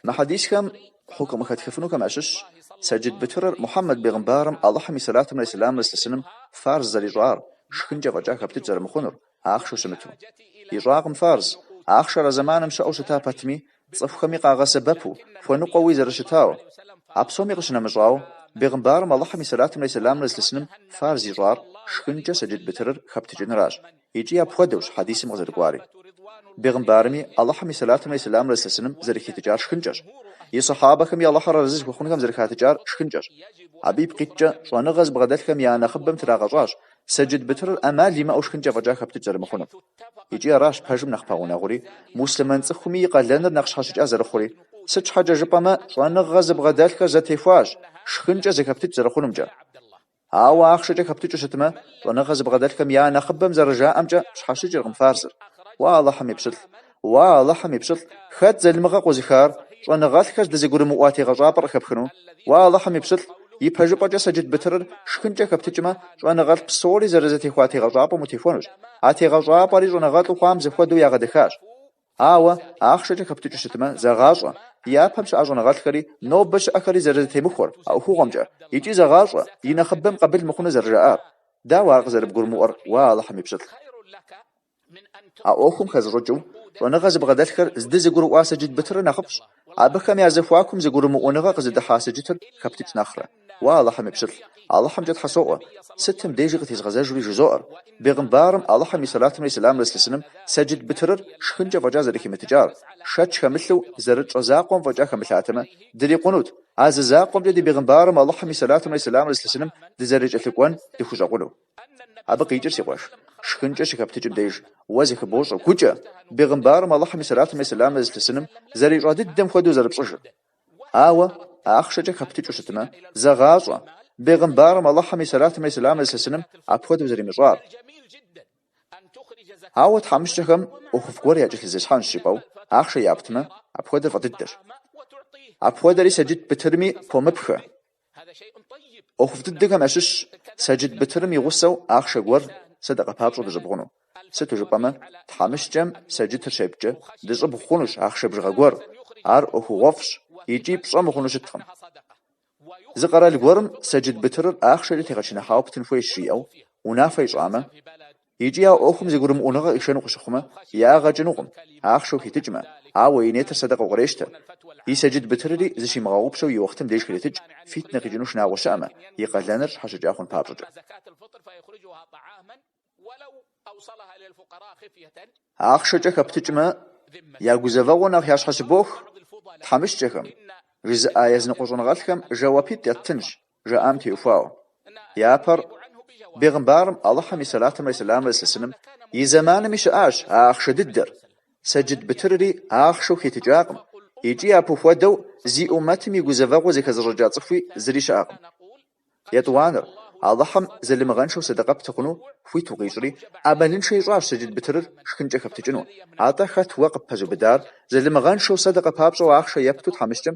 Мы хьэдисхэм хьукым къыхэтхыфынухэм ящыщщ сэджыт бытырыр Мухьэммэд бегъымбарым Алыхьым и сэлатымрэ и сэлямрэ зылъысыным фарз зэрищӏар, шхынкӏэ фӏэкӏа хэптыкӏ зэрымыхъунур, ахъшэу щымыту. Ищӏакъым фарз, ахъшэр а зэманым щыӏэу щыта пэтми, цӏыхухэми къагъэсэбэпу, хуэныкъуэуи зэрыщытауэ. А псоми къыщынэмыщӏауэ, бегъымбарым Алыхьым и сэлатымрэ и сэлямрэ зылъысыным фарз ищӏар, шхынкӏэ сэджыт бытырыр хэптыкӏыныращ. Икӏи апхуэдэущ хьэдисым къызэрыкӏуари. Бегъымбарми, Алыхьым и сэлатымрэ и сэлямрэ зылъысыным зэрыхитыкӏар шхынкӏэщ. И Сыхьэбэхэми Алыхьыр арэзы зыхуэхъунхэм зэрыхатыкӏар шхынкӏэщ. Абы ипкъыткӏэ, щӏэныгъэ зыбгъэдэлъхэм я нэхъыбэм трагъэщӏащ сэджыт бытырыр ӏэмал имыӏэу шхынкӏэ фӏэкӏа хэптыкӏ зэрымыхъунум. Икӏи аращ пэжым нэхъ пэгъунэгъури, муслъымэн цӏыхуми и къалэныр нэхъ щхьэщыкӏа зэрыхъури. Сыт щхьэкӏэ жыпӏэмэ, щӏэныгъэ зыбгъэдэлъхэр зэтехуащ шхынкӏэ зэхэптыкӏ зэрыхъунумкӏэ. Ауэ ахъшэкӏэ хэптыкӏыу щытмэ, щӏэныгъэ зыбгъэдэлъхэм я нэхъыбэм зэрыжаӏэмкӏэ пщхьэщыкӏыркъым фарзыр. Уа Алыхьым и пщылӏ! Уа Алыхьым и пщылӏ! Хэт залымыгъэ къозыхар, щӏэныгъэлӏхэр здызэгурымыӏуа тегъэщӏапӏэр къыхэпхыну? Уа Алыхьым и пщылӏ! Ипэжыпӏэкӏэ сэджыт бытырыр шхынкӏэ хэптыкӏмэ, щӏэныгъэлӏ псори зэрызэтехуа тегъэщӏапӏэм утехуэнущ. А тегъэщӏапӏэри щӏэныгъэлӏу хъуам зэхуэдэу ягъэдэхащ. Ауэ, ахъшэкӏэ хэптыкӏыу щытмэ, зэгъащӏэ, япэм щыӏа щӏэныгъэлӏхэри, нобэ щыӏэхэри зэрызэтемыхуэр а ӏуэхугъуэмкӏэ, икӏи зэгъащӏэ, и нэхъыбэм къабыл мыхъуну зэрыжаӏар. Дауэ ар къызэрыбгурымыӏуэр, уа Алыхьым и пщылӏ? А ӏуэхум хэзыщӏыкӏыу, щӏэныгъэ зыбгъэдэлъхэр здызэгурыӏуа сэджыт бытырыр нэхъыфӏщ, Абыхэм я зэхуакум зэгурымыӏуэныгъэ къызыдыхьа сэджытыр хэптыкӏ нэхърэ. Уа Алыхьым и пщылӏ! Алыхьымкӏэ Тхьэ соӏуэ! Сытым дежи къытезгъэзэжури жызоӏэр: Бегъымбарым, Алыхьым и сэлатымрэ и сэламрэ зылъысыным, сэджыт бытырыр шхынкӏэ фӏэкӏа зэрыхимытыкӏар, шэч хэмылъу, зэрытщӏэ закъуэм фӏэкӏа хэмылъатэмэ, дырикъунут, а зы закъуэмкӏэ ди Бегъымбарым, Алыхьым и сэлатымрэ и сэламрэ зылъысыным, дызэрыкӏэлъыкӏуэн дыхущӏэкъуну. Абы къикӏыр, си къуэш, шхынкӏэ щыхэптыкӏым деж, уэ зыхыбощӏэ, гукӏэ, бегъымбарым Алыхьым и сэлатымрэ и сэлямрэ зылъысыным зэрищӏа дыдэм хуэдэу зэрыпщӏыжыр. Ауэ, ахъшэкӏэ хэптыкӏыу щытмэ, зэгъащӏэ, бегъымбарым Алыхьым и сэлатымрэ и сэлямрэ зылъысыным апхуэдэу зэримыщӏар. Ауэ тхьэмыщкӏэхэм ӏуэхуфӏ гуэр якӏэлъызесхьэнщ жыпӏэу ахъшэ яптмэ, апхуэдэр фӏы дыдэщ. Апхуэдэри сэджыт бытырми помыпхэ. ӏуэхуфӏ дыдэхэм ящыщщ сэджыт бытырым и гъусэу ахъшэ гуэр сэдэкъэ папщӏэу дыщӏыбгъуну. Сыту жыпӏэмэ, тхьэмыщкӏэм сэджытыр щепткӏэ, дыщӏыбгъу хъунущ ахъшэ бжыгъэ гуэр, ар ӏуэхугъуэфӏщ икӏи пщӏэ мыхъуну щыткъым. Зы къэрал гуэрым сэджыт бытырыр ахъшэкӏэ тегъэчыныхьауэ птын хуейщ жиӏэу унафэ ищӏамэ, Икӏи а ӏуэхум зэгурымыӏуэныгъэ къишэну къыщыхъумэ, ягъэ кӏынукъым, ахъшэу хитыкӏмэ, ауэ и нетыр сэдэкъэу кърещтэ. И сэджыт бытырри зыщимыгъэгъупщэу и уэхътым деж хретыкӏ, фитнэ къикӏыну шынагъуэ щыӏэмэ, и къалэныр щхьэщыкӏа хъун папщӏэкӏэ. Ахъшэкӏэ хэптыкӏмэ, я гузэвэгъуэ нэхъ ящхьэщыбох, тхьэмыщкӏэхэм, жызыӏа языныкъуэ щӏэныгъэлӏхэм жэуапитӏ яттынщ, жаӏам теухуауэ. Япэр бегъымбарым, Алыхьым и сэлатымрэ сэлямрэ зылъысыным, и зэманми щыӏащ а ахъшэ дыдэр, сэджыт бытырри ахъшэу хитыкӏакъым, икӏи апхуэдэу зи ӏумэтым и гузэвэгъуэ зэхэзыщӏыкӏа цӏыхуи зыри щыӏэкъым. Етӏуанэр, Алыхьым залымыгъэншэу садакъэ пты хъуну хуит укъищӏри, ӏэмалыншэ ищӏащ сэджыт бытырыр шхынкӏэ хэптыкӏыну. Атӏэ хэт уэ къыппэзыубыдар, залымыгъэншэу садакъэ папщӏэу ахъшэ епту тхьэмыщкӏэм